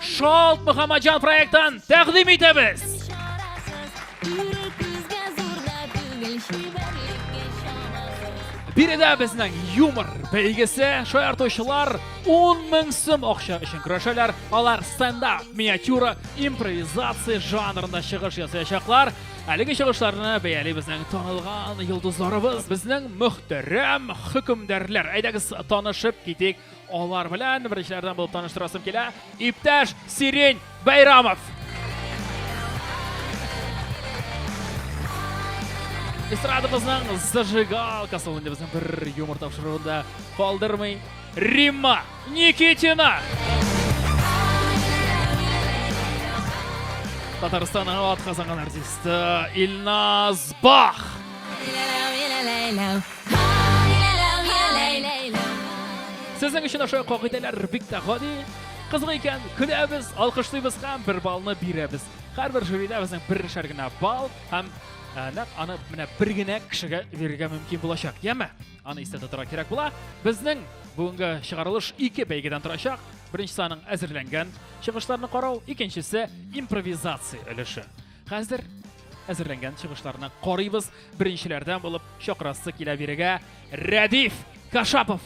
Шалт Мөхәммәтҗан проектын тәкъдим итәбез. Биредә безнең юмор бәйгесе шаяртучылар 10 мең сум акча өчен көрәшәләр. Алар стендап, миниатюра, импровизация жанрында чыгыш ясаячаклар. Әлеге чыгышларны бәяли безнең танылган йолдызларыбыз, безнең мөхтәрәм хөкемдарлар. Әйдәгез танышып китик. Алар белән беренчеләрдән булып таныштырасым килә. Иптәш Сирень Байрамов. Эстрадабызның зажигалкасы ул инде безнең бер юмор тапшыруында калдырмый. Римма Никитина. Татарстанның атказанган артисты Илназ Бах. Сезнең өчен ошо кагыйдәләр бик тә гади. Кызык икән, көләбез, алкышлыйбыз һәм бер балны бирәбез. Һәрбер жюрида безнең берничә генә балл һәм ә, нәкъ аны менә бер генә кешегә бирергә мөмкин булачак. Яме? Аны истә тотарга кирәк була. Безнең бүгенге чыгарылыш ике бәйгедән торачак. Беренчесе аның әзерләнгән чыгышларны карау, икенчесе импровизация өлеше. Хәзер әзерләнгән чыгышларны карыйбыз. Беренчеләрдән булып чакрасы килә бирегә Рәдиф Кашапов.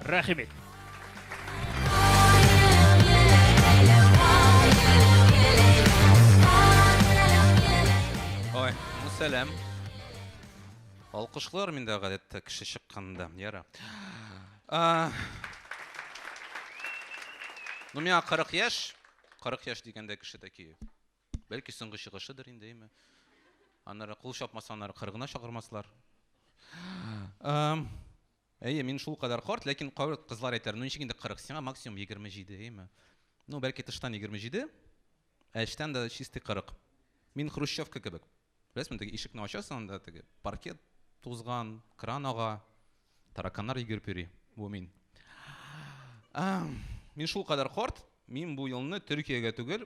Рәхим ит. Ой, ну сәлам. Алкышлар миндә гадәттә кеше чыкканда, яра. А, Ну, миңа 40 яшь, 40 яшь дигәндә кеше такие. Бәлки соңгы чыгышыдыр инде, әйме? Аннары кул чапмаса, аннары кыргына чакырмаслар. Әйе, мин шул кадәр карт, ләкин кавер кызлар әйтәр, ну ничек инде 40, сиңа максимум 27, әйме? Ну, бәлки тыштан 27, ә эчтән дә чистый 40. Мин хрущевка кебек. Беләсезме, теге ишекне ачасың, анда теге паркет тузган, кран ага, тараканнар йөгереп йөри. Бу мин. Мин шул кадәр карт, мин бу елны Төркиягә түгел,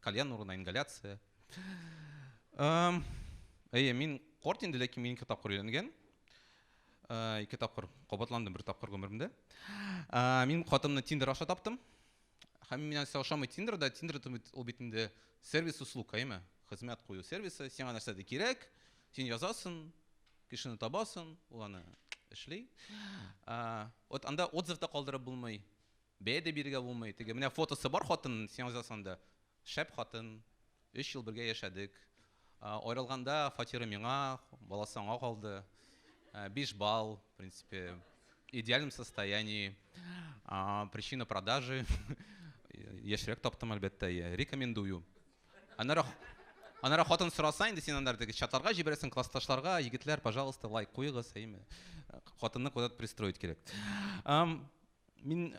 Кальян урынына ингаляция. Әйе, мин корт инде, ләкин мин ике тапкыр өйләнгән. Э, ике тапкыр кабатландым бер тапкыр гомеремдә э, мин хатынымны тиндер аша таптым һәм миңа нәрсә ошамый тиндерда тиндер ул бит инде сервис услуг әйме хезмәт кую сервисы сиңа нәрсә дә кирәк син язасың кешене табасың ул аны эшли э, вот анда отзыв та калдырып булмый Бәя дә бирергә булмый, теге, менә фотосы бар хатынның, син язасың анда, шәп хатын, өч ел бергә яшәдек, аерылганда фатиры миңа, баласы аңа калды, биш балл, в принципе, идеальном состоянии, причина продажи, яшьрәк таптым, әлбәттә, я рекомендую. Аннары, аннары хатын сораса инде, син аннары теге чатларга җибәрәсең, классташларга, егетләр, пожалуйста, лайк куегыз, әйеме, хатынны куда-то пристроить кирәк. Мин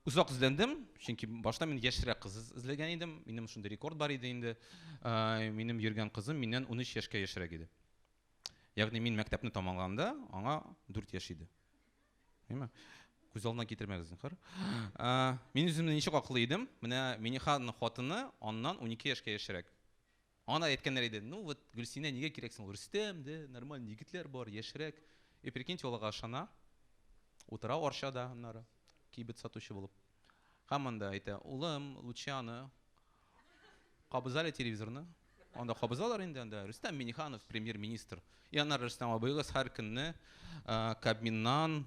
озак эзләндем, чөнки башта мин яшьрәк кыз эзләгән идем. Минем шундый рекорд бар иде инде. Минем йөргән кызым миннән 13 яшькә яшьрәк иде. Ягъни мин мәктәпне тамамлаганда аңа 4 яшь иде. Әйме? Күз алдына китермәгез, зинхар. Мин үземне ничек аклый идем? Менә Миниханың хатыны аннан 12 яшькә яшьрәк. Аңа әйткәннәр иде, ну вот Гөлсинә нигә кирәк соң ул, Рөстәм дә, нормальный егетләр бар, яшьрәк. И прикиньте, ул ага ышана, утыра Арчада аннары, кибет сатучы булып. Һәм анда әйтә, улым, лучше аны кабыз әле телевизорны. Анда кабызалар инде, анда Рөстәм Миңнеханов, премьер-министр. И аннары Рөстәм абыегыз һәр көнне Кабминнан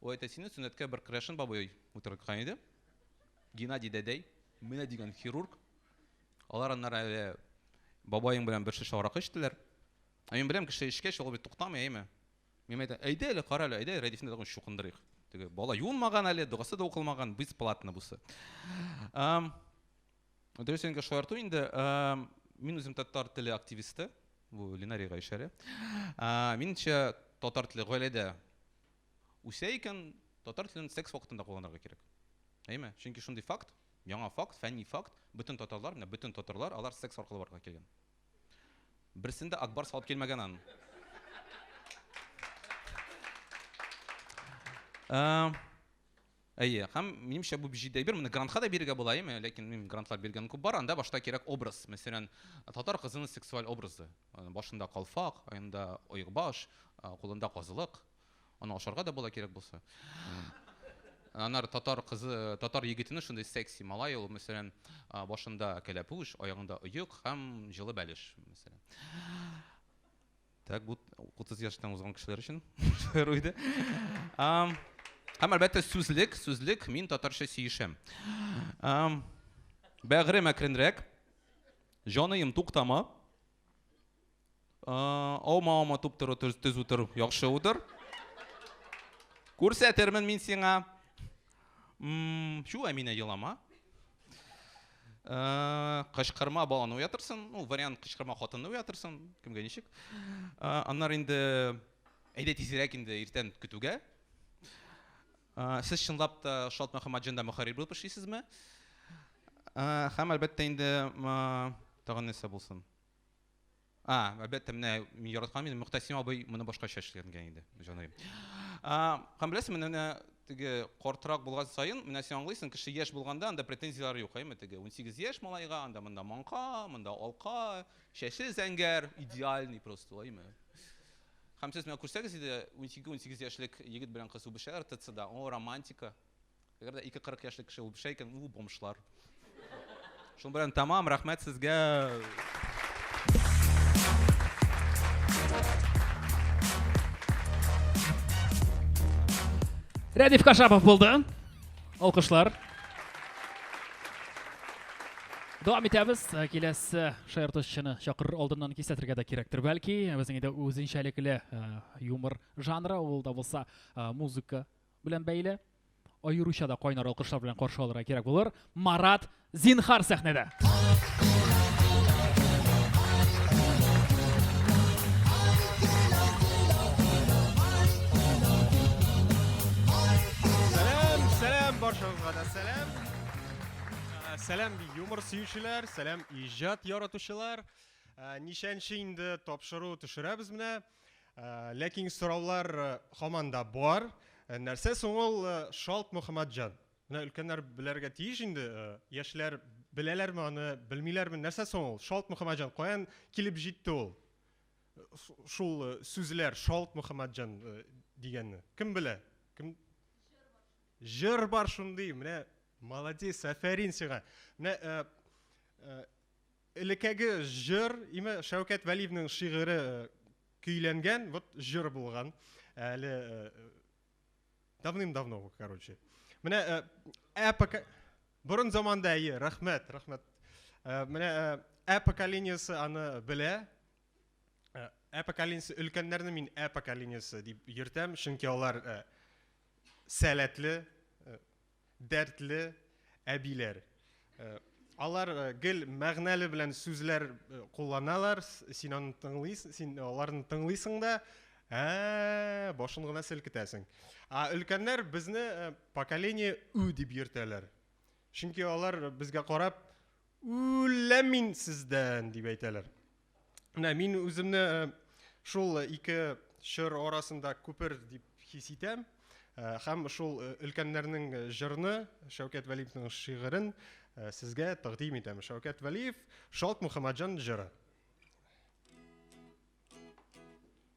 Ул әйтә, сине сөннәткә бер крәшен бабай утырткан иде. Геннадий дәдәй, менә дигән хирург. Алар аннары әле бабаең белән бер шешә аракы эчтеләр. Ә мин беләм, кеше эчкәч, ул бит туктамый, әйме? Мин әйтәм, әйдә әле, кара әле, әйдә Рәдифне тагын чукындырыйк. Теге бала юынмаган әле, догасы да укылмаган, бесплатно бусы. Дөрес инде шаярту инде. Мин үзем татар теле активисты. Бу Ленарийга ишарә. Минемчә, татар теле гаиләдә үсә икән, татар телен секс вакытында кулланырга кирәк. Әйме? Чөнки шундый факт, яңа факт, фәнни факт, бөтен татарлар, менә бөтен татарлар, алар секс аркылы барга килгән. Берсен дә Акбар салып килмәгән ан. Э, Әйе, һәм минемчә бу җитди әйбер. Моны грантка да бирергә була, әйеме? Ләкин мин грантлар биргән күп бар. Анда башта кирәк образ. Мәсәлән, татар кызының сексуаль образы. Башында калфак, аенда оекбаш, кулында казылык. Аны ашарга да була кирәк булса. Анар татар кызы, татар егетенең шундый секси малай ул, мәсәлән, башында кәләпүш, аягында оек һәм җылы бәлеш, мәсәлән. Так, бу 30 яшьтән узган кешеләр өчен шаяру иде. Һәм әлбәттә сүзлек, сүзлек, мин татарча сөешәм. Бәгырем әкренрәк. Җаныем туктама. Аума аума туп тору төз утыр, яхшы утыр. Күрсәтермен мин сиңа М, Чу, Әминә, елама. Э, Кычкырма баланы уятырсың. Ну, вариант кычкырма хатынны уятырсың. Кемгә ничек? Э, Аннары инде әйдә тизрәк инде иртән көтүгә. Э, Сез чынлап та Шат Мөхәммәтҗанда мөхәррир булып эшлисезме? Э, Һәм әлбәттә инде м, тагын нәрсә булсын? А, әлбәттә, менә мин яраткан идем, Мөхтәсим абый моны башкача эшләнгән иде, җаныем. Һәм беләсең, менә теге картрак булган саен, менә син аңлыйсың, кеше яшь булганда анда претензияләр юк, әйме, теге 18 яшь малайга, анда монда маңка, монда алка, чәче зәңгәр, идеальный просто, әйме. Һәм сез менә күрсәгез иде, 12-18 яшьлек егет белән кыз үбешәләр ТЦда, о, романтика. Әгәр дә ике кырык яшьлек кеше ул бешә икән, у, бомжлар. Шуның белән тәмам, рәхмәт сезгә! Рәдиф Кашапов булды. Алкышлар. Дәвам итәбез. Э, киләсе шаяртучыны чакырыр алдыннан кисәтергә дә кирәктер, бәлки. Безнең инде үзенчәлекле э, юмор жанры ул да булса э, музыка белән бәйле аеруча да кайнар алкышлар белән каршы алырга кирәк булыр. Марат Зинхар сәхнәдә. Сәлам, сәлам баршагызга да сәлам. Ә, Сәлам юмор сөючеләр, сәлам иҗат яратучылар. Ә, Ничәнче инде тапшыру төшерәбез менә. Ләкин сораулар һаман да бар. Нәрсә соң ул Шалт Мөхәммәтҗан? Менә өлкәннәр белергә тиеш инде, яшьләр беләләрме аны, белмиләрме? Нәрсә соң ул Шалт Мөхәммәтҗан? Каян килеп җитте ул? Шул сүзләр Шалт Мөхәммәтҗан дигәнне. Кем белә? Кем Җыр бар шундый, менә молодец, афәрин сиңа. Менә Элекеге җыр, име Шәүкәт Вәлиевнең шигыре көйләнгән, вот җыр булган. Әле давным-давно, короче. Менә ә пока борын заманда әйе, рәхмәт, рәхмәт. Менә ә поколениесе аны белә. Ә поколениесе өлкәннәрне мин ә поколениесе дип йөртәм, чөнки алар сәләтле, Дәртле әбиләр. Алар гел мәгънәле белән сүзләр кулланалар, син аны тыңлыйсың, син аларны тыңлыйсың да, ә башын гына селкетәсең. Ә өлкәннәр безне поколение ü дип йөртәләр. Чөнки алар безгә карап, үләм мин сездән, дип әйтәләр. Менә мин үземне э, шул ике чор арасында күпер дип хис итәм э, һәм шул э, өлкәннәрнең җырны Шәүкәт Вәлиевнең шигырен сезгә тәкъдим итәм. Шәүкәт Вәлиев Шалт Мөхәммәтҗан җыры.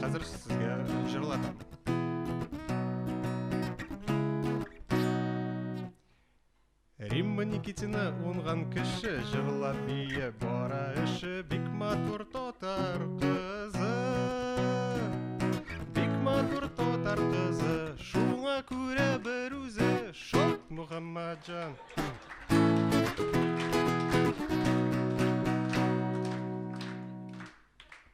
Хәзер сезгә җырлатам. Римма Никитина унган кеше җырлап бие бара эше бик матур татар кызы. Бик матур татар кызы, шуңа күрә бер үзе шат Мухаммаджан.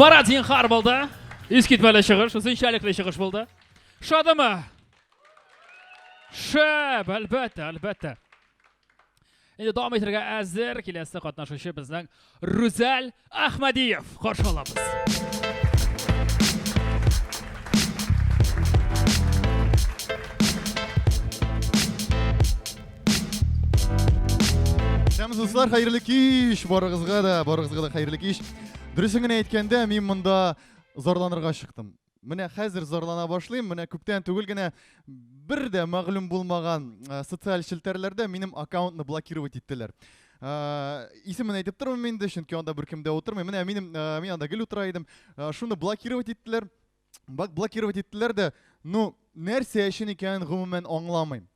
Марат Зинхар булды. Искитмәле чыгыш, үзенчәлекле чыгыш булды. Шадымы? Шәп, әлбәттә, әлбәттә. Инде дәвам итәргә әзер киләсе катнашучы безнең Рүзәл Ахмадиев. Каршы алабыз. Һәм дуслар, хәерле кич! Барыгызга да, барыгызга да хәерле кич. Дөресен генә әйткәндә, мин монда зарланырга чыктым. Менә хәзер зарлана башлыйм. Менә күптән түгел генә бер дә мәгълүм булмаган э, социаль челтәрләрдә минем аккаунтны блокировать иттеләр. Э, исемен әйтеп тормыйм инде, чөнки анда беркем дә утырмый. Менә минем э, мин анда гел утыра идем. Шуны блокировать иттеләр. Бак блокировать иттеләр дә, ну нәрсә өчен икәнен гомумән аңламыйм.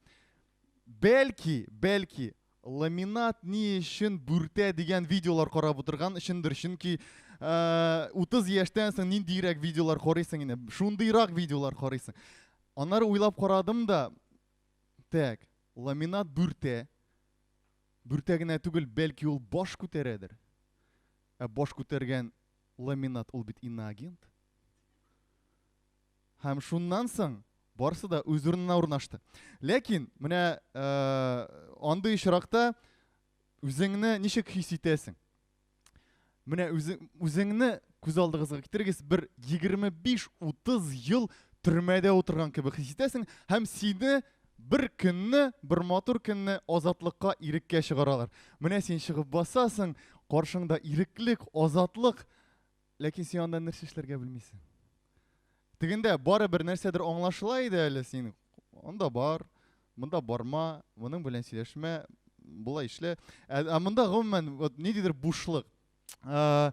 Бәлки, бәлки Ламинат ни өчен бүртә дигән видеолар карап утырган өчендер, чөнки 30 яшьтән соң ниндирәк видеолар карыйсың инде, шундыйрак видеолар карыйсың. Аннары уйлап карадым да, так, ламинат бүртә, бүртә генә түгел, бәлки ул баш күтәрәдер. Ә баш күтәргән ламинат ул бит инагент. Һәм шуннан соң барысы да үз урынына урнашты. Ләкин менә андый очракта үзеңне ничек хис итәсең? Менә үзеңне күз алдыгызга китерегез, бер 25-30 ел төрмәдә утырган кебек хис итәсең һәм сине бер көнне, бер матур көнне азатлыкка иреккә чыгаралар. Менә син чыгып басасың, каршыңда иреклек, азатлык, Ләкин син анда нәрсә эшләргә белмисең. Тегендә барыбер нәрсәдер аңлашыла иде әле син. Анда бар, монда барма, моның белән сөйләшмә, болай эшлә. Ә, ә монда гомумән вот ниндидер бушлык. Ә,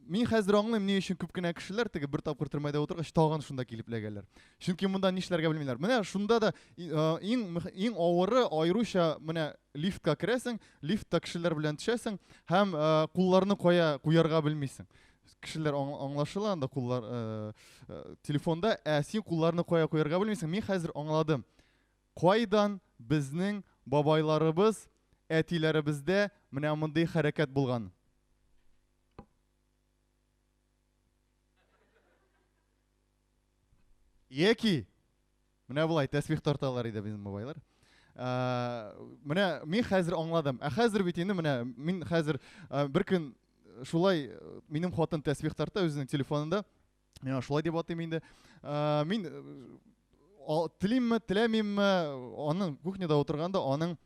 мин хәзер аңлыйм, ни өчен күп кенә кешеләр теге бер тапкыр төрмәдә утыргач тагын шунда килеп эләгәләр. Чөнки монда нишләргә белмиләр. Менә шунда да иң иң авыры аеруча менә Лифтка керәсең, лифтта кешеләр белән төшәсең һәм кулларны кая куярга белмисең. Кешеләр аңлашыла анда куллар телефонда, ә син кулларны кая куярга белмисең. Мин хәзер аңладым. Кайдан безнең бабайларыбыз, әтиләребездә менә мондый хәрәкәт булган? Яки Менә болай тәсбих тарталар иде безнең бабайлар. Ә, менә мин хәзер аңладым. Ә хәзер бит инде менә мин хәзер ә, бер көн шулай минем хатын тәсбих тарта үзенең телефонында. Миңа шулай дип атыйм инде. Ә, мин телимме, теләмимме, аның кухняда утырганда аның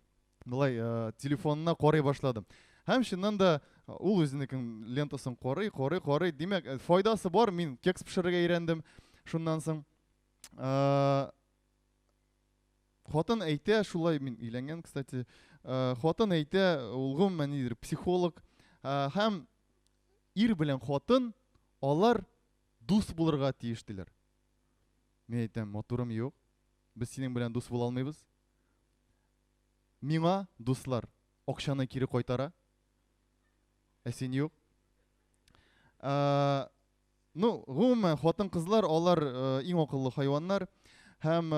былай ә, телефонына карый башладым. Һәм чыннан да ул үзенекен лентасын карый, карый, карый. Димәк, файдасы бар. Мин кекс пешерергә өйрәндем шуннан соң. Э, хатын әйтә, шулай мин өйләнгән, кстати. Э, хатын әйтә, ул гомумән нидер психолог э, һәм ир белән хатын алар дус булырга тиеш диләр. Мин әйтәм, матурым юк. Без синең белән дус була алмыйбыз. Миңа дуслар акчаны кире кайтара. Ә син юк. Э, Ну, гомумән, хатын-кызлар алар иң акыллы хайваннар һәм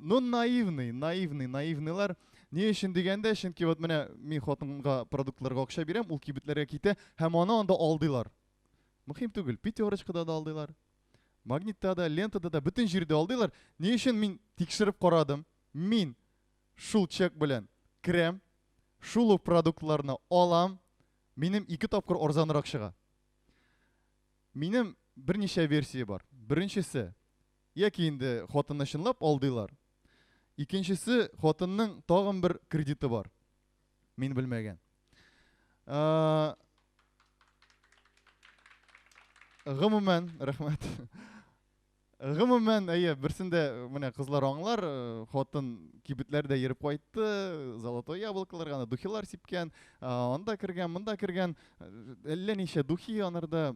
ну наивный, наивный, наивныйлар. Ни өчен дигәндә, чөнки вот менә мин хатынга продуктларга акча бирәм, ул кибетләргә китә һәм аны анда алдыйлар. Мөһим түгел, пятерочкада да алдыйлар. Магнитта да, лентада да, бөтен җирдә алдыйлар. Ни өчен мин тикшереп карадым? Мин шул чек белән керәм, шул ук продуктларны алам, минем ике тапкыр арзанрак чыга. Минем берничә версия бар. Беренчесе, яки инде хатынны чынлап алдыйлар. Икенчесе, хатынның тагын бер кредиты бар. Мин белмәгән. Гомумән, рәхмәт. Гомумән, әйе, берсен дә менә кызлар аңлар, хатын кибетләр дә йөреп кайтты, золотой яблокалар гына духилар сипкән, анда кергән, монда кергән, әллә ничә духи анарда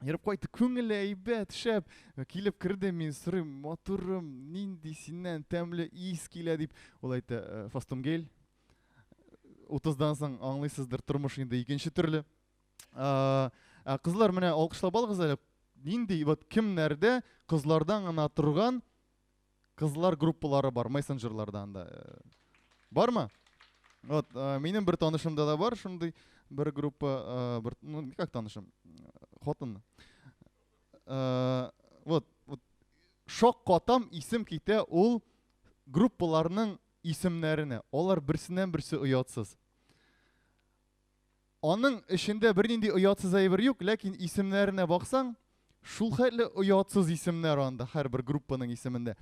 Ерып кайтты, күңеле әйбәт, шәп. Килеп керде, мин сорыйм, матурым, нинди синнән тәмле ис килә дип. Ул әйтә, фастумгель. Утыздан соң аңлыйсыздыр, тормыш инде икенче төрле. Ә, кызлар менә алкышлап алыгыз әле. Нинди вот кемнәрдә кызлардан гына торган кызлар группалары бар мессенджерларда анда? Бармы? Вот, ә, минем бер танышымда да бар шундый бер группа, ә, бер ну как танышым? Хатын. Ә, вот, вот шок катам исем китә ул группаларның исемнәренә. Алар берсеннән берсе оятсыз. Аның эчендә бернинди оятсыз әйбер юк, ләкин исемнәренә баксаң, шул хәтле оятсыз исемнәр анда һәрбер группаның исемендә.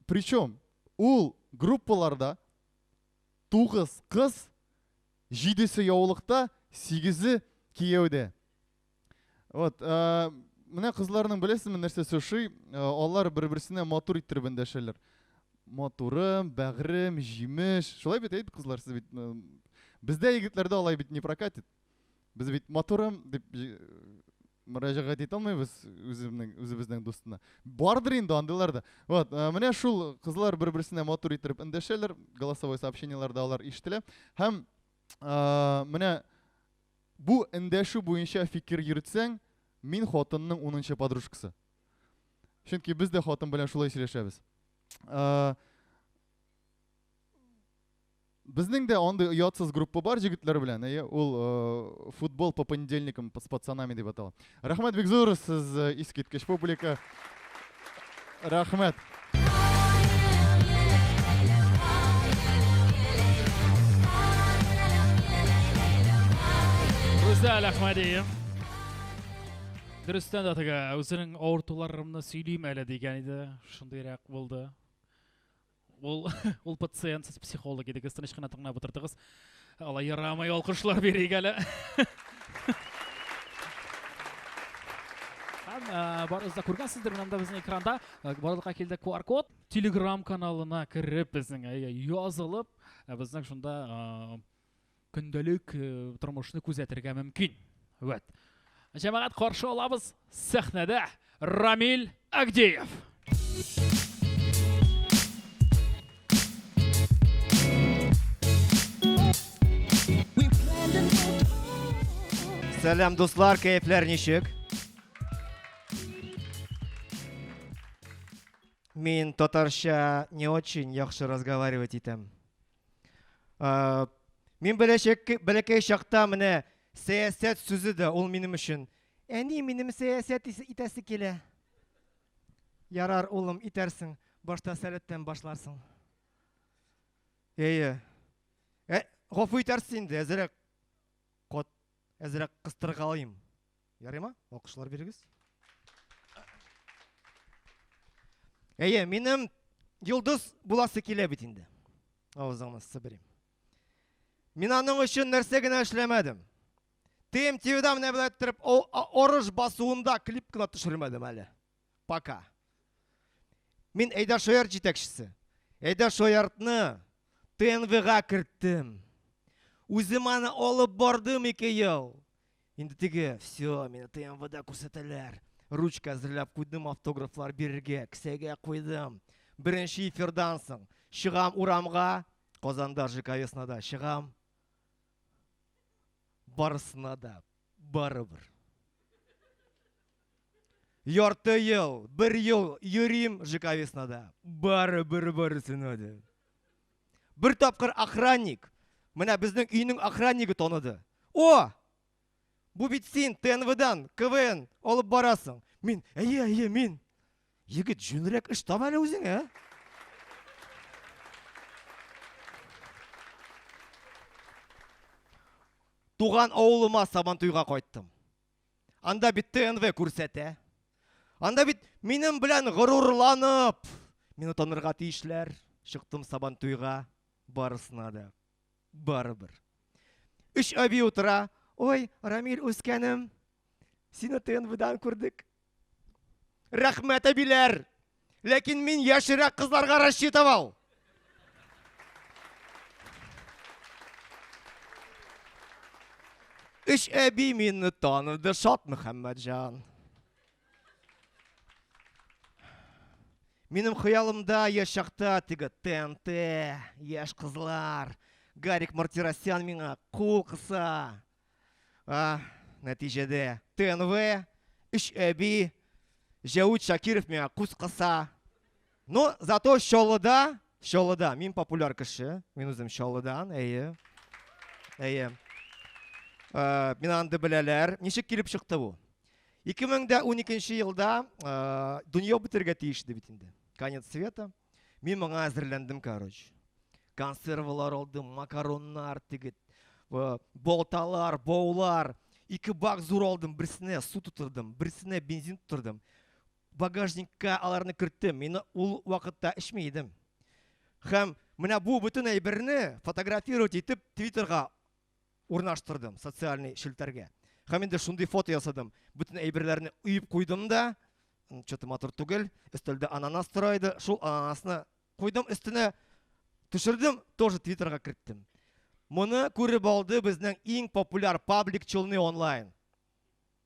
Причем ул группаларда 9 кыз, 7се яулыкта, 8е кияүдә. Вот, ә, менә кызларның беләсезме нәрсә сөши? Алар бер-берсенә матур иттереп эндәшәләр. Матурым, бәгърем, җимеш. Шулай бит әйт кызлар, сез бит бездә егетләрдә алай бит не прокатит. Без бит матурым дип мөрәҗәгать итә алмыйбыз үзебезнең үзебезнең дустына. Бардыр инде андыйлар да. Вот, менә шул кызлар бер-берсенә матур иттереп эндәшәләр, голосовой сообщениеләрдә алар ишетелә. Һәм менә Бу эндәшү буенча фикер йөртсәң, мин хатынның унынчы подружкасы. Чөнки без дә хатын белән шулай сөйләшәбез. Безнең дә андый оятсыз группа бар җегетләр белән. Әйе, ул футбол по понедельникам с пацанами дип атала. Рәхмәт бик зур, сез э, искиткеч публика. Рәхмәт. Гүзәл Әхмәдиев. Дөрестән дә теге үзенең авыртуларымны сөйлим әле дигән иде. Шундыйрак булды. Ул ул пациент, сез психолог идегез, тыныч кына тыңлап утырдыгыз. Алай ярамый, алкышлар бирик әле. Һәм барыгыз да күргәнсездер, менә монда безнең экранда барлыкка килде QR-код. Telegram каналына кереп безнең язылып, безнең шунда Көндәлек тормышны күзәтергә мөмкин. Вәт. Җәмәгать каршы алабыз сәхнәдә Рамил Агдеев. Сәлам дуслар, кәефләр ничек? Мин татарча не очень яхшы разговаривать итәм. Мин бәләкәй чакта менә сәясәт сүзе дә ул минем өчен. Әни, минем сәясәт итәсе килә. Ярар, улым, итәрсең. Башта сәләттән башларсың. Әйе. Ә, гафу итәрсез инде, әзрәк кот, әзрәк кыстыргалыйм. Ярыймы? Алкышлар бирегез. Әйе, минем йолдыз буласы килә бит инде. Авызыңны сыбырым. Мин аның өчен нәрсә генә эшләмәдем. Тем тиюдә менә белән торып, орыш басуында клип кына төшермәдем әле. Пока. Мин Әйдә Шояр җитәкчесе. Әйдә Шояртны ТНВга керттем. Үзем аны алып бардым ике ел. Инде теге, все, мине ТНВда күрсәтәләр. Ручка әзерләп куйдым, автографлар бирергә, кесәгә куйдым. Беренче эфирдан соң чыгам урамга, Казанда ЖК Веснада чыгам. Барысына да барыбер. Ярты ел, бер ел йөрим Жиковеснада. Бары бер барысына да. Бер тапкыр охранник, менә безнең өйнең охраннигы таныды. О! Бу бит син ТНВдан КВН алып барасың. Мин, әйе, әйе, мин. Егет, җүнрәк эш таба әле үзеңә. Туган авылыма Сабантуйга кайттым. Анда бит ТНВ күрсәтә. Анда бит минем белән горурланып мине танырга тиешләр. Чыктым сабан туйга, барысына да. Барыбер. Өч әби утыра. Ой, Рамиль үскәнем, сине ТНВдан күрдек. Рәхмәт, әбиләр! Ләкин мин яшерәк кызларга рассчитывал. Өч әби мине таныды, Шат Мөхәммәтҗан. Минем хыялымда яшь чакта теге ТНТ, яшь кызлар, Гарик Мартиросян миңа кул кыса. А, нәтиҗәдә ТНВ, өч әби, Җәүд Шакиров миңа күз кыса. Но зато Чаллыда, Чаллыда мин популяр кеше, мин үзем Чаллыдан, әйе. Әйе. Ә, мин анда беләләр. Ничек килеп чыкты бу? 2012 елда ә, дөнья бетергә тиеш иде бит инде. Конец света. Мин моңа әзерләндем, короче. Консервалар алдым, макароннар, тегет, э, болталар, боулар. Ике бак зур алдым, берсенә су тутырдым, берсенә бензин тутырдым. Багажникка аларны керттем. Мин ул вакытта эчми идем. Хәм, менә бу бөтен әйберне фотографировать итеп Твиттерга Урнаштырдым социальный челтәргә. Һәм инде шундый фото ясадым. Бүтән әйберләрне уеп куйдым да, чөте матур түгел, өстәлдә ананас тора иде, шул ананасны куйдым өстенә, төшердем, тоже твиттерга керттем. Моны күреп алды безнең иң популяр паблик Челны онлайн.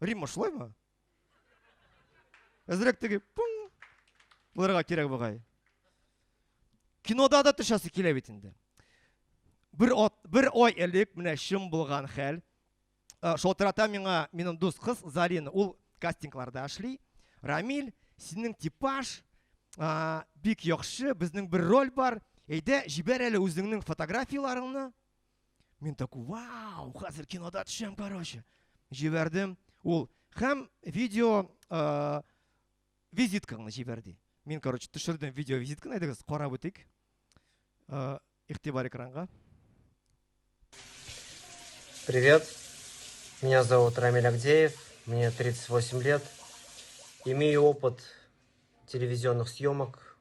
Римма шулаймы? Әзрәк теге пун булырга кирәк бугай. Кинода да төшәсе килә бит инде. Бер ат, бер ай элек менә чын булган хәл. Э, Шалтырата миңа минем дус кыз Зарина, ул кастингларда эшли. Рамиль, синең типаж а, бик яхшы, безнең бер роль бар. Әйдә, җибәр әле үзеңнең фотографияләреңне. Мин такой, вау, хәзер кинода төшәм, короче. Җибәрдем. Ул һәм видео э, визиткаңны җибәр ди. Мин, короче, төшердем видео визитканы, әйдәгез, карап үтик. Э, игътибар экранга. Привет. Меня зовут Рамиль Агдеев, мне 38 лет. Имею опыт телевизионных съемок,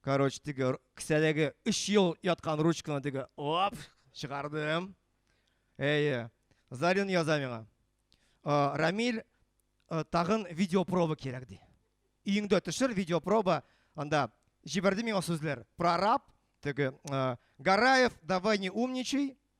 Короче, теге кесәдәге өч ел яткан ручканы теге оп, чыгардым. Әйе. Зарин яза миңа. Рамиль, тагын видеопроба кирәк ди. Өеңдә төшер видеопроба, анда җибәрде миңа сүзләр. Прораб, теге Гараев, давай не умничай,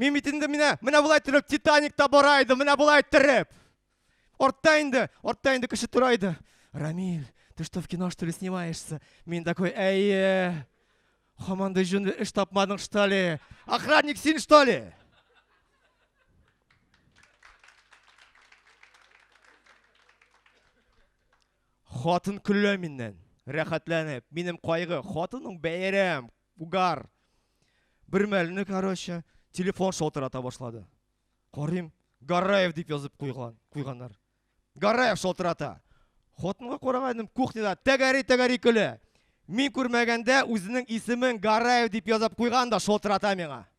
Мин бит инде менә, менә болай торып Титаникта бара иде, менә болай торып. Ортта инде, ортта инде кеше тора иде. Рамиль, ты что, в кино, что ли, снимаешься? Мин такой, әйе. Хамандай жун эш тапмадың, что ли? Охранник син, что ли? Хатын көлә миннән, рәхәтләнеп. Минем кайгы, хатының бәйрәм, Угар! Бер мәлне, короче, телефон шалтырата башлады. Карыйм, Гараев дип язып куйган, куйганнар. Гараев шалтырата. Хатынга карагайдым, кухняда тәгәри-тәгәри көлә. Мин күрмәгәндә үзенең исемен Гараев дип язып куйган да шалтырата миңа.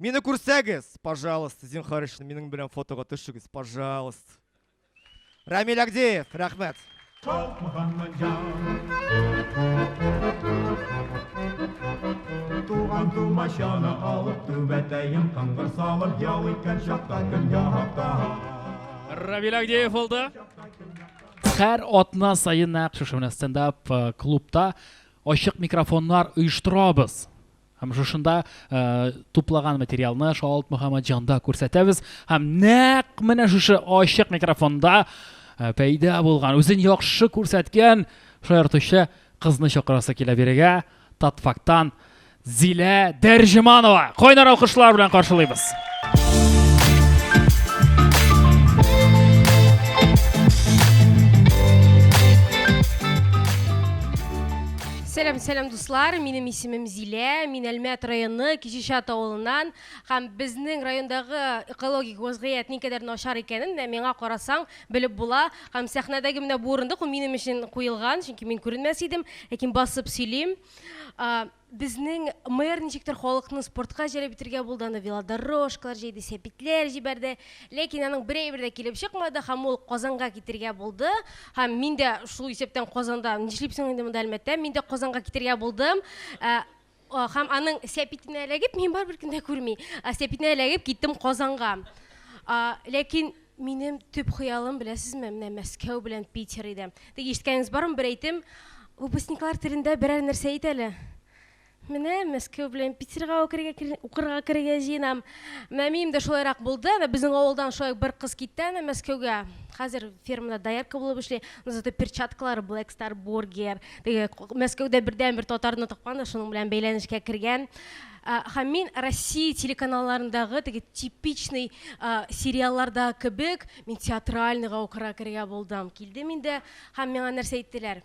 Мине күрсәгез, пожалуйста, зинхар өчен минем белән фотога төшегез, пожалуйста. Рамиль Агдеев, рәхмәт. Туган тумачаны алып, түбәтәем кыңгыр салып, ял иткән чакта көн яһакта. Равил Агдеев булды. Хәр атна сайын нәкъ шушы менә стендап э, клубта ачык микрофоннар оештырабыз. Һәм шушында э, туплаган материалны Шаалт Мөхәммәтҗанда күрсәтәбез. Һәм нәкъ менә шушы ачык микрофонда э, пәйда булган, үзен яхшы күрсәткән шаяртучы кызны чакырасы килә бирегә. Татфактан Зилә Дәрҗиманова. Кайнар алкышлар белән каршылыйбыз. Сәлам, сәлам, Дуслар, минем исемем Зилә, мин Әлмәт районы Кичечат авылыннан һәм безнең райондагы экологик вазгыять никадәр начар икәнен менә миңа карасаң белеп була. Һәм сәхнәдәге менә бу урындык ул минем өчен куелган, чөнки мин күренмәс идем, ләкин басып сөйлим. Безнең мэр ничектер халыкны спортка җәлеп итәргә булды, аны велодорожкалар җәйде, сәпитләр җибәрде. Ләкин аның бер әйбер дә килеп чыкмады һәм ул Казанга китергә булды. Һәм мин дә шул исәптән Казанда, нишлип соң инде монда Әлмәттә, мин дә Казанга китергә булдым. Ә, а, Һәм аның сәпитенә эләгеп, мин барыбер кем дә күрми, а, сәпитенә эләгеп киттем Казанга. А, Ләкин минем төп хыялым, беләсезме, менә Мәскәү белән Питер иде. Теге ишеткәнегез бармы, бер әйтем, Выпускниклар телендә берәр нәрсә әйт әле. Менә Мәскәү белән Питерга укырга, укырга керергә җыенам. Менә минем дә шулайрак булды. Менә безнең авылдан шулай бер кыз китте аны Мәскәүгә. Хәзер фермада доярка булып эшли. Ну, зато перчаткалары Black Star Burger. Теге Мәскәүдә бердән бер татарны тапкан да шуның белән бәйләнешкә кергән. Һәм мин Россия телеканалларындагы теге типичный сериалларда кебек, мин театральныйга укырга керергә булдым. Килдем инде һәм миңа нәрсә әйттеләр?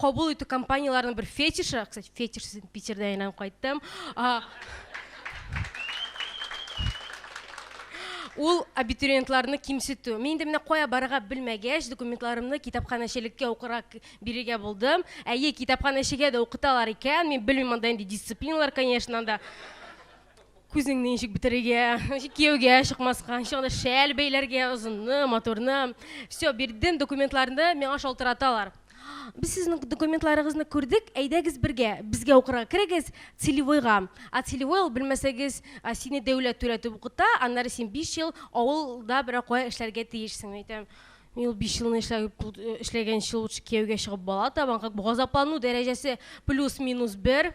Кабул итү компанияләренең бер фетишы, кстати, фетиш сүзен Питердә әйләнеп кайттым. Ул абитуриентларны кимсетү. Мин инде менә кая барырга белмәгәч, документларымны китапханәчелеккә укырга бирергә булдым. Әйе, китапханәчегә дә укыталар икән. Мин белмим анда инде дисциплиналар, конечно, анда. Күзеңне ничек бетерергә, кияүгә чыкмаска, ничек анда шәл бәйләргә, озынны, матурны. Все, бирдем документларны, миңа шалтыраталар. Без сезнең документларыгызны күрдек, әйдәгез бергә, безгә укырга керегез, целевойга. А целевой ул, белмәсәгез, а, сине дәүләт түләтеп укыта, аннары син биш ел авылда берәр кая эшләргә тиешсең, әйтәм. Мин ул биш елны эшләп, э, эшләгәнче лучше кияүгә чыгып бала табам, как бы газаплану дәрәҗәсе плюс-минус бер.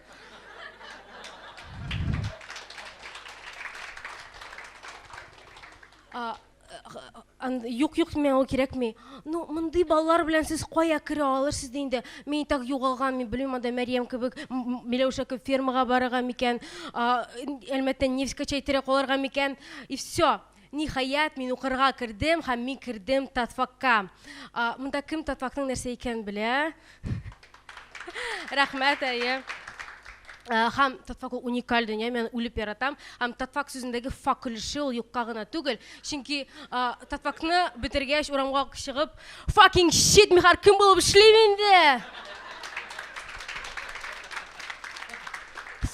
А, э, юк юк мен ул кирәкми ну мондый балалар белән сез кая керә алырсыз ди инде мин так югалган мин белмим анда мәриям кебек миләүшә кебек фермага барырга микән әлмәттән невскачай терәк алырга микән и все Ниһаять, мин укырга кердем һәм мин кердем Татфакка. Монда кем Татфакның нәрсә икәнен белә? Рәхмәт, әйе. Һәм Татфак ул уникаль дөнья, мин үлеп яратам. Һәм Татфак сүзендәге фак өлеше ул юкка гына түгел. Чөнки Татфакны бетергәч, урамга чыгып, fucking shit, мин хәзер кем булып эшлим инде?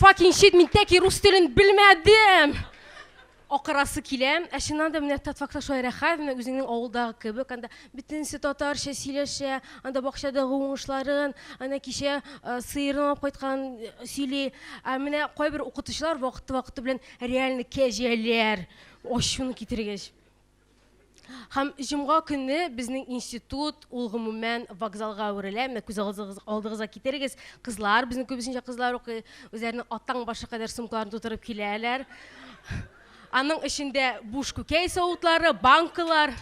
Fucking shit, мин тәки рус телен белмәдем! Акырасы килә. Ә чыннан да, менә Татфакта шулай рәхәт, менә үзеңнең авылдагы кебек, анда бөтенесе татарча сөйләшә, анда бакчадагы уңышларын, әнә кичә сыерын алып кайткан сөйли. Ә менә кайбер укытучылар вакыты-вакыты белән реально кәҗәләр, ачуны китергеч. Һәм җомга көне безнең институт, ул гомумән вокзалга әверелә. Менә күз алдыгызга китерегез, кызлар, безнең күбесенчә кызлар укый, үзләренең атаң башы кадәр сумкаларын тутырып киләләр. Аның эчендә буш күкәй савытлары, банкалар.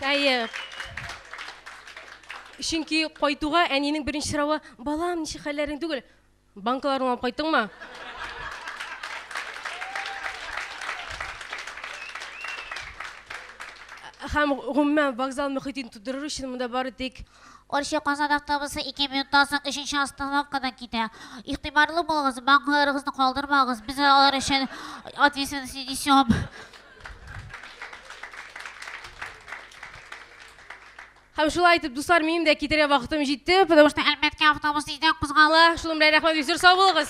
Әйе. Чөнки кайтуга әнинең беренче соравы, балам, ничек хәлләрең түгел? Банкаларыңны алып кайттыңмы? Һәм, гомумән, вокзал мөхитен тудырыр өчен монда бары тик. Орчы, Казан автобусы ике минуттан соң өченче остановкадан китә. Игътибарлы булыгыз, банкаларыгызны калдырмагыз, без алар өчен ответственность не несем. Һәм шулай итеп, дуслар, минем дә китәргә вакытым җитте, потому что Әлмәткә автобус өйдә кузгала. Шуның белән рәхмәт бик зур, сау булыгыз.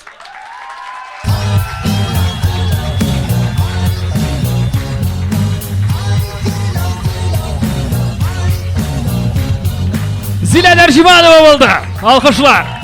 Зилә Дәрҗиманова булды. Алкышлар.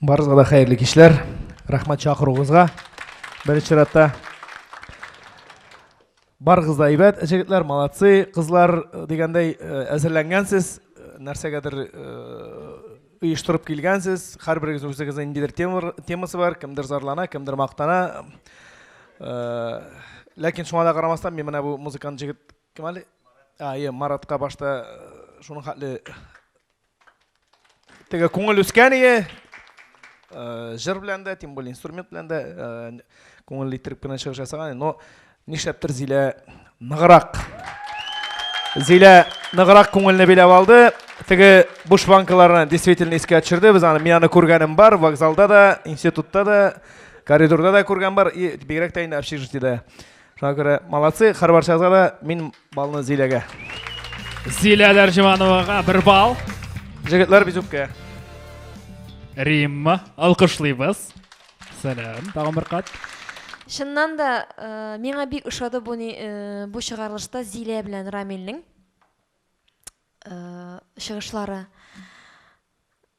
Барызга да хәерле кичләр. Рәхмәт чакыруыгызга. Беренче чиратта барыгыз да әйбәт, җегетләр, молодцы, кызлар э, дигәндәй э, әзерләнгәнсез, э, нәрсәгәдер оештырып килгәнсез, һәрберегез үзегезнең ниндидер темасы бар, кемдер зарлана, кемдер мактана. Ләкин шуңа да карамастан, мин менә бу музыкант җегет кем әле? А, Маратка башта шуның хәтле теге күңел үскән ие э, җыр белән дә тем более инструмент белән дә э, күңелле иттереп кенә чыгыш ясаган но нишләптер зилә ныграк зилә ныграк күңелне биләп алды теге буш банкаларны действительно искә төшерде без аны мин аны күргәнем бар вокзалда да институтта да коридорда да күргән бар и бигрәк тә инде общежитиедә Шуңа күрә молодцы, хәрбарчагызга да мин балны Зиләгә. Зилә Дәрҗимановага бер бал. Җегетләр бизүккә. Римма, алкышлыйбыз. Сәлам, тагын бер кат. Чыннан да э, миңа бик ошады бу ни- э, бу чыгарылышта Зилә белән Рамилнең э, чыгышлары.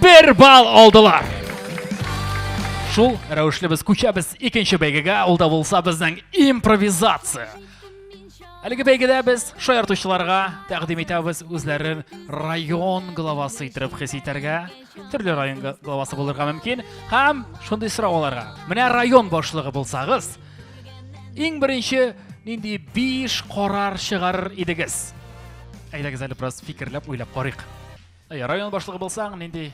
Бер бал алдылар. Шул рәвешле без күчәбез икенче бәйгегә, ул да булса безнең импровизация. Әлеге бәйгедә без шаяртучыларга тәкъдим итәбез үзләрен район главасы итеп хис итәргә. Төрле район главасы булырга мөмкин һәм шундый сорау аларга. Менә район башлыгы булсагыз, иң беренче нинди биш карар чыгарыр идегез? Әйдәгез әле бераз фикерләп, уйлап карыйк. Әйе, район башлыгы булсаң, нинди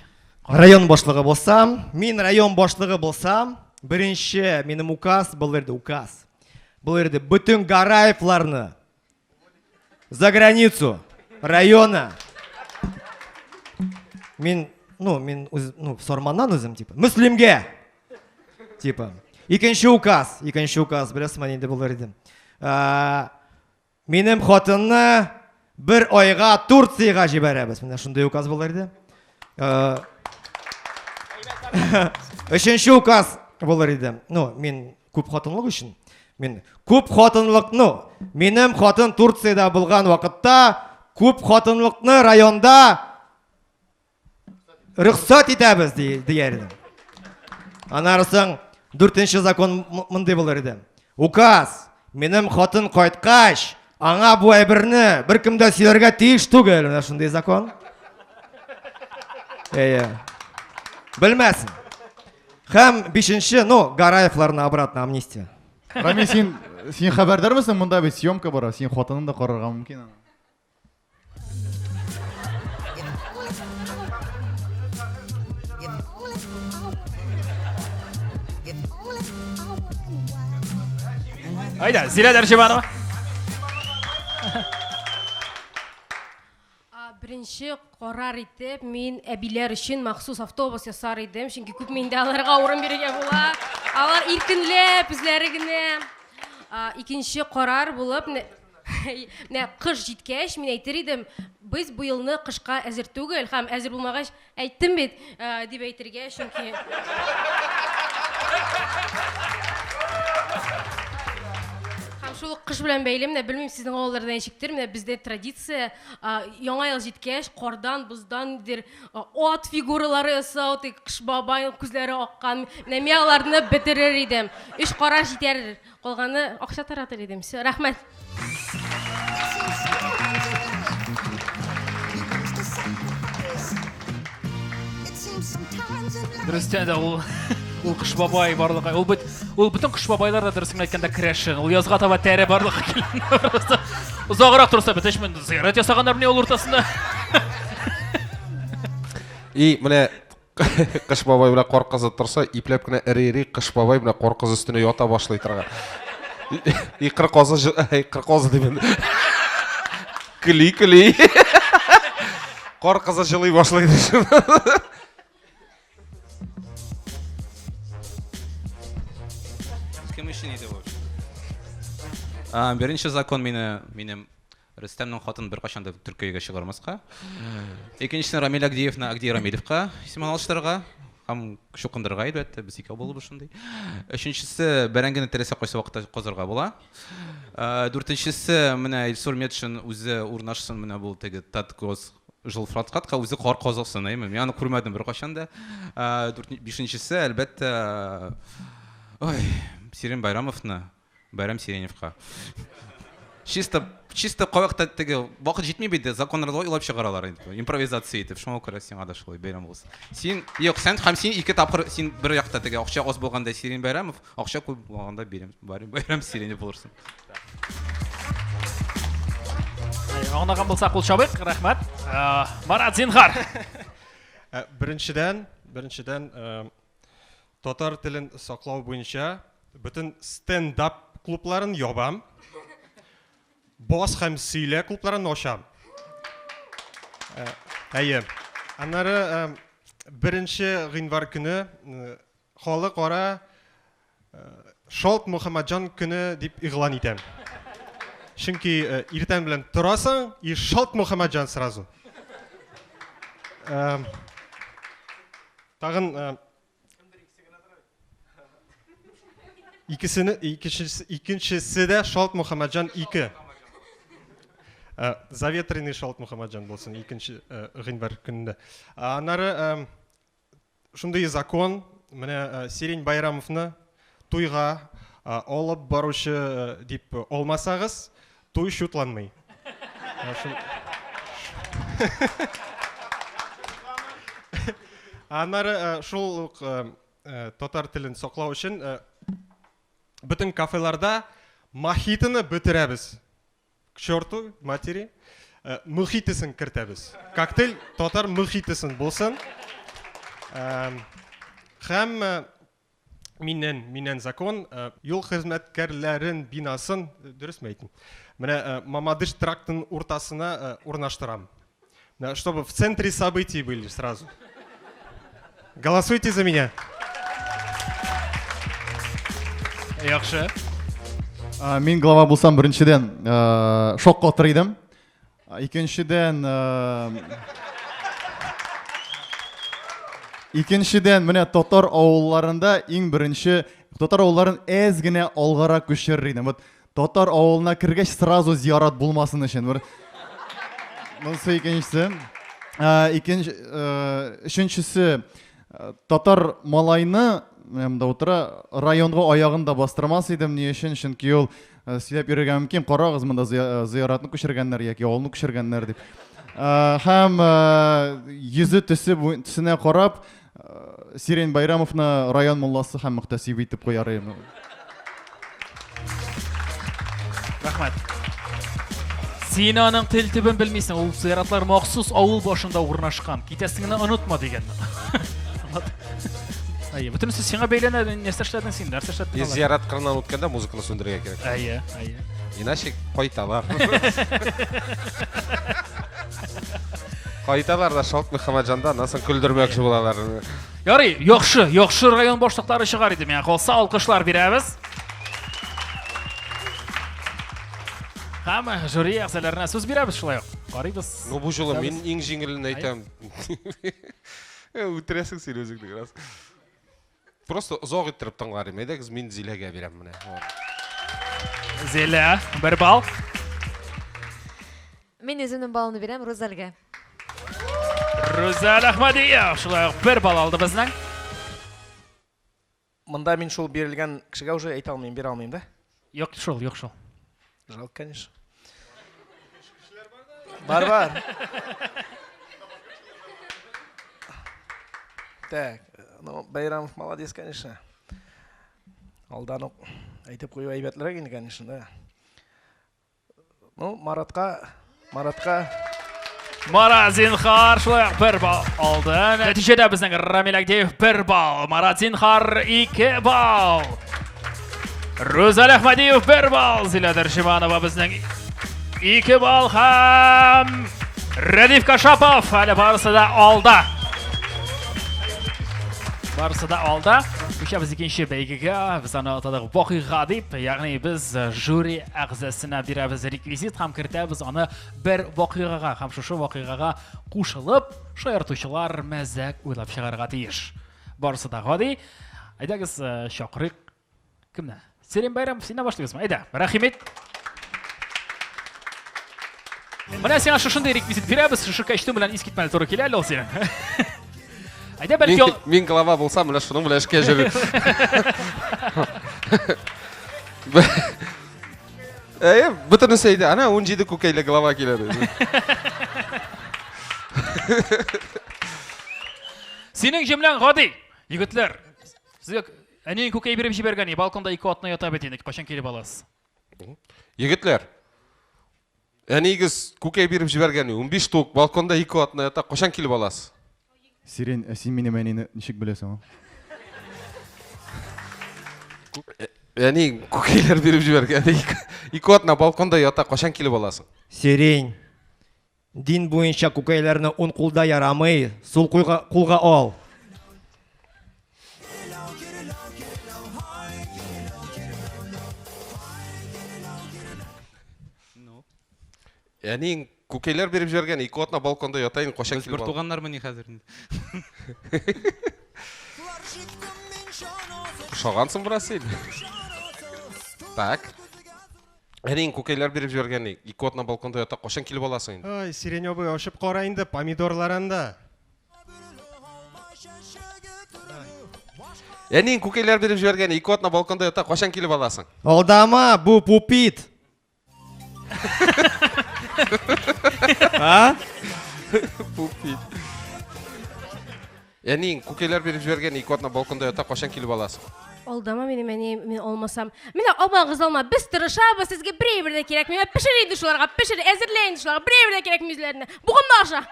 карар? Район башлыгы булсам, мин район башлыгы булсам, беренче минем указ булыр иде, указ. Булыр иде бөтен Гараевларны за границу района. Мин, ну, мин үз, ну, Сорманнан үзем типа. Мөслимгә. Типа. Икенче указ, икенче указ, беләсезме, нинди булыр иде. Ә, Минем хатынны бер айга Турциягә җибәрәбез. Менә шундый указ булыр иде. Э, Өченче указ булыр иде. Ну, мин күп хатынлык өчен. Мин күп хатынлык, ну, минем хатын Турциядә булган вакытта күп хатынлыкны районда Рөхсәт итәбез, дияр идем. Аннары соң дүртенче закон мондый булыр иде. Указ, минем хатын кайткач, аңа бу әйберне беркем дә сөйләргә тиеш түгел. Менә шундый закон. Әйе. Белмәсен. Һәм бишенче, ну, Гараевларына обратно амнистия. Рамил, син син хәбәрдар мисың? Монда бит съемка бара. Син хатынын да карарга мөмкин. Айда, зилә Дәржибанова. Беренче карар итеп, мин әбиләр өчен махсус автобус ясар идем, чөнки күп миндә аларга урын бирергә була. Алар иркенләп, үзләре генә. Икенче карар булып, Менә кыш җиткәч, мин әйтер идем, без бу елны кышка әзер түгел һәм әзер булмагач, әйттем бит, э, дип әйтергә, чөнки Һәм шул ук кыш белән бәйле, менә белмим сезнең авылларда ничектер, менә бездә традиция, а, яңа ел җиткәч, кардан, боздан дир, а, ат фигуралары ясау, тик кыш бабай күзләре аккан. Менә мин аларны бетерер идем. Өч караш җитәр Калганы акча таратыр идем. Все, рәхмәт. Дөрестән дә ул ул кыш бабай барлыгы. Ул бит ул бөтен кыш бабайлар да дөресен әйткәндә крәшен. Ул язга таба тәре барлыгы килгән. Узагырак торса бит эшмен зыярат ясаганнар менә ул уртасында. И менә Кыш бабай белән кар кызы торса, ипләп кенә эри-эри Кыш бабай белән кар кызы өстенә ята башлый торган. И кыр козы, и кыр козы димен. Кли, кли. Кар кызы җылый башлый. Кем өчен иде бу? Беренче закон мине минем Рөстәмнең хатын беркайчан да Төркиягә чыгармаска. Икенчесен Рамиль Агдиевны Агди Рамилевка исемен алыштырырга һәм чукындырырга, әлбәттә, без икәү булып шундый. Өченчесе бәрәңгене теләсә кайсы вакытта казырга була. Э, дүртенчесе менә Илсур Метшин үзе урнашсын менә бу теге Таткос жилфраткатка үзе кар казылсын, әйме? Мин аны күрмәдем беркайчан да. Э, бишенчесе, әлбәттә, ой, Сирин Байрамовны Бәйрәм Сиреневка. Чисто, чисто кавыкта теге, вакыт җитми бит, законнарда уйлап чыгаралар инде, импровизация итеп. Шуңа күрә сиңа да шулай бәйрәм булсын. Син, юк, сән һәм син ике тапкыр, син бер якта теге, акча аз булганда Сирин Бәйрәмов, акча күп булганда Бәйрәм, Бәйрәм Сиренев булырсың. Аңлаган булсак, кул чабыйк, рәхмәт. Марат, зинһар. Беренчедән, беренчедән, Татар телен саклау буенча бөтен стендап клубларын ябам. Бас һәм сөйлә клубларын ачам. Э, әйе. Аннары э, беренче гыйнвар көне э, халыкара Шалт Мөхәммәтҗан көне дип игълан итәм. Чөнки иртән белән торасың и шалт Мөхәммәтҗан сразу. Тагын Икесене икенчесе икенчесе дә Шалт Мөхәммәтҗан 2. Э, заветренный Шалт Мөхәммәтҗан булсын икенче э, гыйнвар көнендә. Аннары э, Шундый закон, менә э, Сирень Байрамовны туйга э, алып баручы э, дип алмасагыз, туй шутланмый. Аннары шул ук татар телен саклау өчен бөтен кафеларда мохитоны бетерәбез. к черту матери, э, мохитесын кертәбез. Коктейль татар мохитесын булсын. Эм, Һәм э, миннән, миннән закон, э, юл хезмәткәрләрен бинасын, э, дөресме әйтим? Менә э, Мамадыш трактын уртасына э, урнаштырам. Да, чтобы в центре событий были сразу. Голосуйте за меня. Яхшы. А, мин глава булсам беренчедән э, шок катыр идем. А, икенчедән э, Икенчедән менә татар авылларында иң беренче татар авылларын әз генә алгарак күчерер идем. Вот Татар авылына кергәч сразу зиярат булмасын өчен бер Монсы икенчесе. Ә, икенче, өченчесе, татар малайны янымда утыра, районга аягын да бастырмас идем, ни өчен? Чөнки ул сөйләп йөрергә мөмкин, карагыз, монда зыяратны күчергәннәр яки авылны күчергәннәр дип. Һәм йөзе төсе төсенә карап, Сирень Байрамовны район мулласы һәм мөхтәсибе итеп куяр идем. Рәхмәт. Син аның тел төбен белмисең, ул сыйратлар махсус авыл башында урнашкан. Китәсеңне онытма дигән. Әйе, бөтенесе сиңа бәйләнә, нәрсә эшләдең син, нәрсә эшләдең? Без зиярат кырыннан үткәндә музыканы сүндерергә кирәк. Әйе, әйе. Иначе кайталар. Кайталар да Шалт Мөхәммәтҗанда, аннан соң көлдермәкче булалар. Ярый, яхшы, яхшы район башлыклары чыгар иде миңа калса, алкышлар бирәбез. Һәм жюри әгъзаларына сүз бирәбез шулай ук. Карыйбыз. Ну бу жолы мин иң җиңелен әйтәм. Үтерәсең син үзеңне раз. Просто озак иттереп тыңлар идем. Әйдәгез, мин Зиләгә бирәм менә. Зилә, бер балл. Мин үземнең балымны бирәм Рузәлгә. Рузәл Әхмәдиев, шулай ук бер балл алды безнең. Монда мин шул бирелгән кешегә уже әйтә алмыйм, бирә алмыйм да. Юк шул, юк шул. Жалко, конечно. Бар, бар. Так, ну, Байрамов молодец, конечно. Алдан ук әйтеп кую әйбәтлерәк инде, конечно, да. Ну, Маратка, Маратка. Марат Зинхар шулай ук бер балл алды. Нәтиҗәдә безнең Рамил Агдеев бер балл, Марат Зинхар ике балл. Рузаль Ахмадиев бер балл, Зилә Дәршиманова безнең ике балл һәм Рәдиф Кашапов әле барысы да алда. Барысы да алда. Үчәбез икенче бәйгегә, без аны атадык вакыйга дип, ягъни без жюри әгъзасына бирәбез реквизит һәм кертәбез аны бер вакыйгага һәм шушы вакыйгага кушылып шаяртучылар мәзәк уйлап чыгарга тиеш барысы да гади әйдәгез э, чакырыйк кемне Сәлим Байрамов синнән башлыйбызмы әйдә рәхимет менә сиңа шушындый реквизит бирәбез шушы костюм белән искитмәле туры килә әле ул синең Әйдә бәлки ул... Мин глава булсам, менә шуның белән эшкә йөрер. Әйе, бөтенесе әйдә. Ана 17 күкәйле глава килә ди. Синең җөмләң гади. Егетләр, сезгә әниең күкәй биреп җибәргән, балконда ике атна ята бит инде. Кайчан килеп аласыз? Егетләр, Әниегез күкәй биреп җибәргән, унбиш тук, балконда ике атна ята, кайчан килеп аласыз? Сирень, ә син минем әнине ничек беләсең? Әни күкәйләр биреп җибәргән, ике атна балконда ята, кайчан килеп аласың? Сирень, дин буенча күкәйләрне ун кулда ярамый, сул кулга ал. Ну. Әниең күкәйләр биреп җибәргән, ике атна балконда ята инде, качак килеп. Бертуганнар мени хәзер инде. Шагансың бераз син. Так. Әниең күкәйләр биреп җибәргән, ике атна балконда ята, качан килеп аласың инде? Ай, сиреневый ачып кара инде, помидорлар анда. Әниең күкәйләр биреп җибәргән ике атна балконда ята, качан килеп аласың? Алдама, бу пупит. А? Пупит. Әниең күкәйләр биреп җибәргән ике атна балконда ята, качан килеп аласың? Алдама минем әни, мин алмасам. Менә алмагыз алма, без тырышабыз, сезгә берәй бер дә кирәкми. Менә Пешер инде шуларга, пешер, әзерлә инде шуларга, берәй бер дә кирәкми үзләренә. Бугынма аша.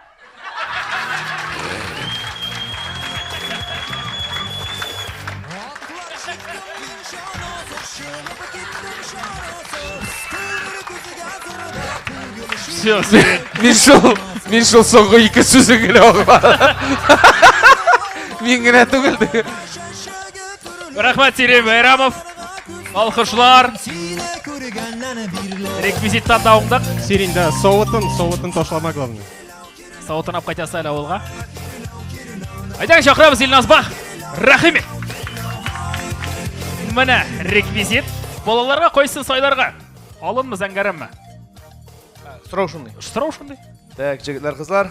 Все, мин шул, мин шул соңгы ике сүзен генә аңладым. Мин генә түгел. Рәхмәт, Сирей Байрамов. Алкышлар. Реквизиттан да уңдык. Син инде савытын, савытын ташлама главный. Савытын алып кайтасы әле авылга. Әйдәң чакырабыз Илназба. Рәхимет. Менә реквизит. Балаларга кайсын сайларга? Алынмы, зәңгәрәмме? Сорау шундый. Сорау шундый. Так, җегетләр, кызлар.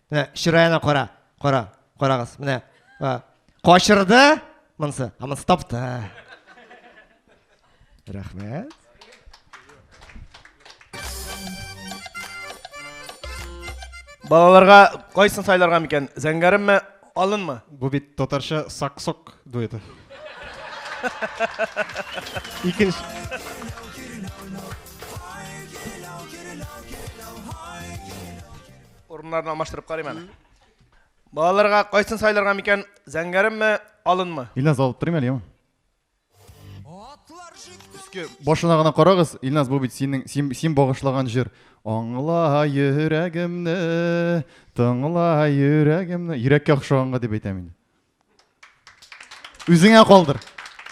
Менә чыраена кара, кара, карагыз. Менә качырды монсы, а монсы тапты. Рәхмәт. Балаларга кайсын сайларга микән? Зәңгәренме, алынмы? Бу бит татарча саксок дуэты. Икенче Урыннарны алмаштырып карыйм әле. Балаларга кайсын сайларга микән? Зәңгәренме, алынмы? Илназ алып торыйм әле, яме. Өске башына гына карагыз, Илназ, бу бит синең син, син багышлаган җыр. Аңла йөрәгемне, тыңла йөрәгемне. Йөрәккә охшаганга дип әйтәм инде. Үзеңә калдыр.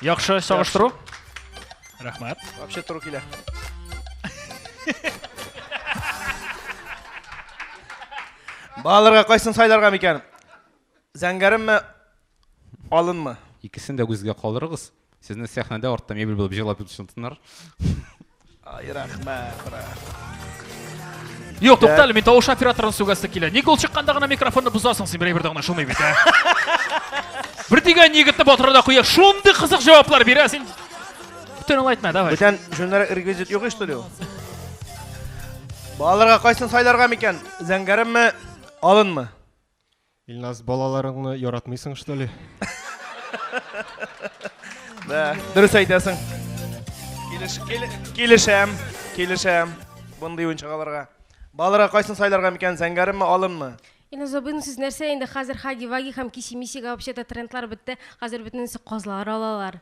Яхшы чагыштыру. Рәхмәт. Вообще туры килә. Балаларга кайсын сайларга микән? Зәңгәренме, алынмы? Икесен дә үзгә калдырыгыз. Сезне сәхнәдә артта мебель булып җырлап ятучан тыннар. Ай, рәхмәт, брат. Юк, туктале, мин тавыш операторын сүгәсе килә. Ник ул чыкканда гына микрофонны бозасың син, берәй бердә гына шулмый бит, ә? Бер дигән егетне батырда куя, шундый кызык җаваплар бирә син. Бүтән ул әйтмә, давай. Бүтән җүннәр реквизит юк ич студио. Балаларга кайсын сайларга микән? Зәңгәренме, алынмы? Илназ, балаларыңны яратмыйсың, что ли? Да, дөрес әйтәсең. Килеш, килешәм, килешәм. Бундый уенчагаларга. Балаларга кайсын сайларга микән, зәңгәрме, алынмы? Инна Забын, сез нәрсә инде хәзер хаги-ваги һәм киси-мисига вообще-то трендлар бетте, хәзер бөтенесе казлар алалар.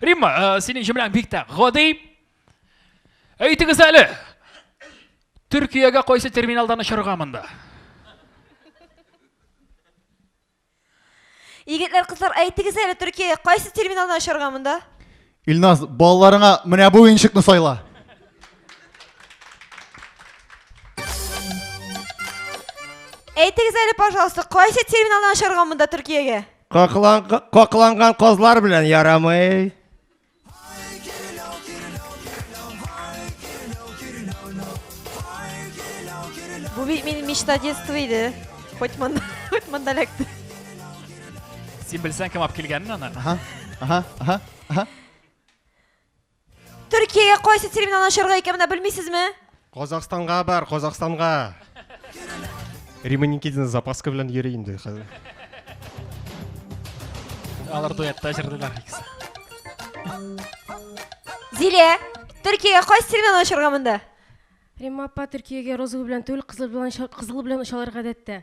Римма, э, синең җөмләң белән бик тә гади. Әйтегез әле. Төркиягә кайсы терминалдан очырга монда? Егетләр, кызлар, әйтегез әле, Төркиягә кайсы терминалдан очарга монда? Илназ, балаларыңа менә бу уенчыкны сайла. Әйтегез әле, пожалуйста, кайсы терминалдан очарга монда Төркиягә? Какланган казлар белән ярамый. Бу бит мин мечта детства иде. Хоть монда, хоть монда эләкте. Син белсәң кем алып килгәнен аны. Ага, ага, ага, ага. Төркиягә кайсы терминал ашарга икәнен белмисезме? Казахстанга бар, Казахстанга. Рима Никитина запаска белән йөри инде хәзер. Алар дуэтта җырлыйлар икесе. Зилә, Төркиягә кайсы сигнал очырга монда? Римма апа Төркиягә розовый белән түгел, кызыл белән кызыл белән очалар гадәттә.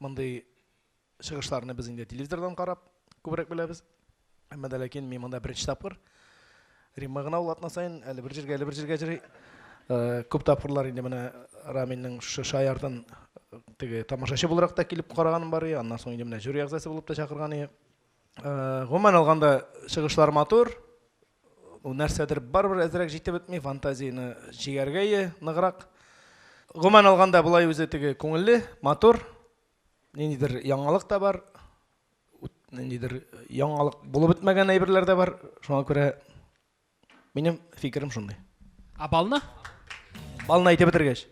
Мондый чыгышларны без инде телевизордан карап күбрәк беләбез. Әмма дә ләкин мин монда беренче тапкыр. Римма гына ул атна саен әле бер җиргә, әле бер җиргә җыри. Э, күп тапкырлар инде менә Раминның шушы шаяртын теге тамашачы буларак та килеп караганым бар иде. Аннан соң инде менә жюри әгъзасы булып та чакырган иде. Гомумән алганда, чыгышлар матур. Нәрсәдер барыбер әзрәк җитеп бетми, фантазияне җигәргәе ныграк. Гомумән алганда, болай үзе теге күңелле, матур. Ниндидер яңалык та бар, ниндидер яңалык булып бетмәгән әйберләр дә бар. Шуңа күрә Минем фикерем шундый. Ә балны? Балны әйтеп бетергәч.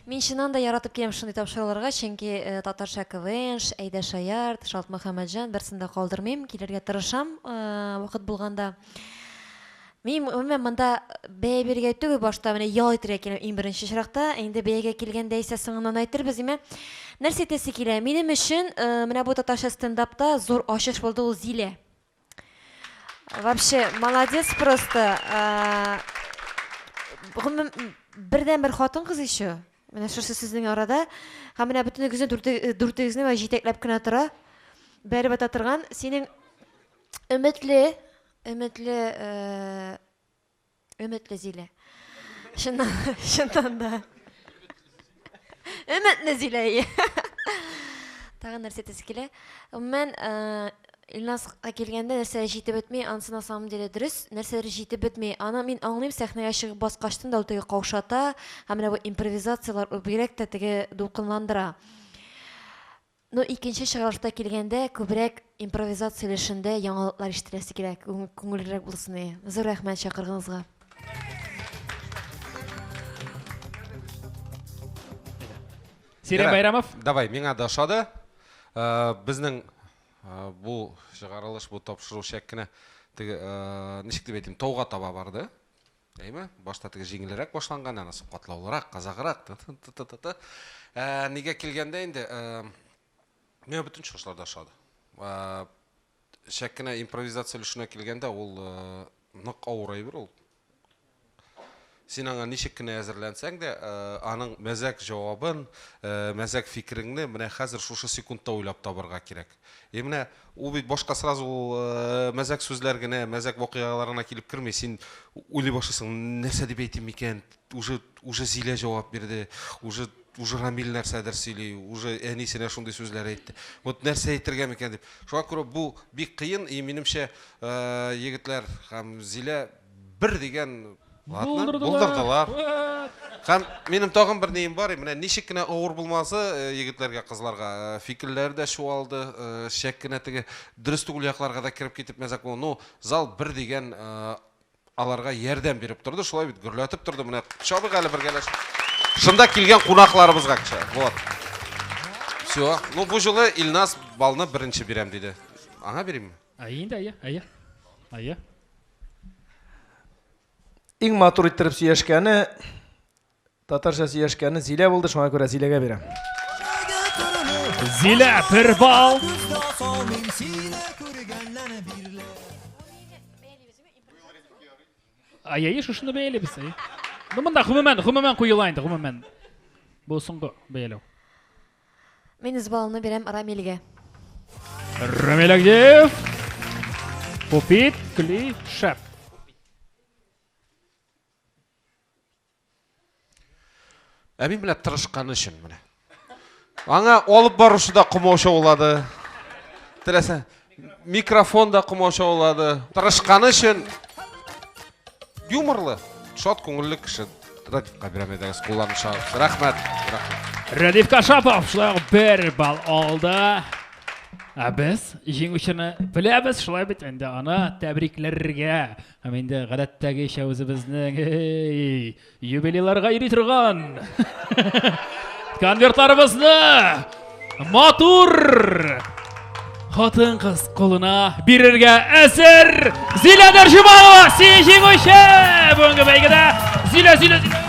Мин чыннан да яратып киләм шундый тапшыруларга, чөнки э, татарча КВН, Әйдә Шаярт, Шалт Мөхәммәтҗан берсен дә калдырмыйм, килергә тырышам э, вакыт булганда. Мин гомумән монда бәя бирергә түгел, башта менә ял итәргә киләм иң беренче чиракта. Инде бәягә килгәндә исә соңыннан әйтербез, димә. Нәрсә әйтәсе килә? Минем өчен э, менә бу татарча стендапта зур ачыш булды ул Зилә. Вообще, молодец просто. Э, гомум бердән бер хатын кыз еще. Менә шушы сезнең арада. Һәм менә бөтенегезне э, дүртегезне менә җитәкләп кенә тора. Бәреп ата торган синең өметле, өметле э, Өметле Зилә. Чыннан, чыннан да. Өметле Зилә. Тагын нәрсә әйтәсе килә? Гомумән, э, Илнаска килгәндә нәрсә җитеп бетми, анысы на самом деле дөрес, нәрсәләр җитеп бетми. Аны мин аңлыйм, сәхнәгә чыгып баскачтын да ул теге каушата, һәм менә бу импровизацияләр ул бигрәк тә теге дулкынландыра. Ну икенче чыгарылышта килгәндә күбрәк импровизация өлешендә яңалыклар ишетеләсе килә, күңеллерәк булсын иде. Зур рәхмәт чакыргыңызга. Сирә Байрамов. Давай, миңа да ошады. Э, безнең э, бу чыгарылыш, бу тапшыру шәк кенә теге э, ничек дип әйтим, тауга таба барды. Әйме? Башта теге җиңелрәк башланган, анысы катлаулырак, казагырак. Ты-ты-ты-ты-ты. Ә, нигә килгәндә инде, ә, миңа бөтен чыгышлар да ошады. Ә, Чәк кенә импровизация өлешенә килгәндә, ул ә, нык авыр әйбер ул. Син аңа ничек кенә әзерләнсәң дә, ә, аның мәзәк җавабын, ә, мәзәк фикереңне менә хәзер шушы секундта уйлап табарга кирәк. Е менә ул бит башка сразу ул мәзәк сүзләр генә, мәзәк вакыйгалар гына килеп керми, син уйлый башлыйсың, нәрсә дип әйтим микән, уже уже Зилә җавап бирде, уже уже Рамил нәрсәдер сөйли, уже әнисенә шундый сүзләр әйтте, вот нәрсә әйтергә микән дип. Шуңа күрә бу бик кыен и минемчә егетләр һәм Зилә бер дигән ватны булдырдылар. Һәм минем тагын бер нием бар, менә ничек кенә авыр булмасы э, егетләргә, кызларга э, фикерләре дә чуалды, э, шәк кенә теге дөрес түгел якларга да кереп китеп мәзәк булды. Ну, зал бер дигән аларга ярдәм биреп торды, шулай бит гөрләтеп торды. Менә чабык әле бергәләшеп. Шунда килгән кунакларыбызга кичә. Вот. Все. Ну, бу җылы Илнас балны беренче бирәм диде. Аңа бирәмме? Әйе инде, әйе, әйе. Әйе. Иң матур иттереп сөйләшкәне, татарча сөйләшкәне Зилә булды, шуңа күрә Зиләгә бирәм. Зилә, бер бал. Аяйы шушыны бәялибез. Ну монда гомумән, гомумән куела инде, гомумән. Бу соңгы бәяләү. Мин үз балымны бирәм Рамилгә. Рамил Агдеев. Попит, кли, шәп. Ә мин менә тырышканы өчен менә. Аңа алып барушы да комаучы булады. Теләсә, Микрофон да комачаулады. Тырышканы өчен юморлы, шат күңелле кеше. Радикка бирәм идегез, кулланып чыгыгыз. Рәхмәт. Рәхмәт. Радик Кашапов шулай ук бер балл алды. Ә без җиңүчене беләбез, шулай бит инде аны тәбрикләргә. Һәм инде гадәттәгечә үзебезнең эй, Юбилейларга йөри торган конвертларыбызны матур хатын-кыз кулына бирергә әзер Зилә Дәрҗималова син җиңүче бүгенге бәйгедә Зилә Зилә Зилә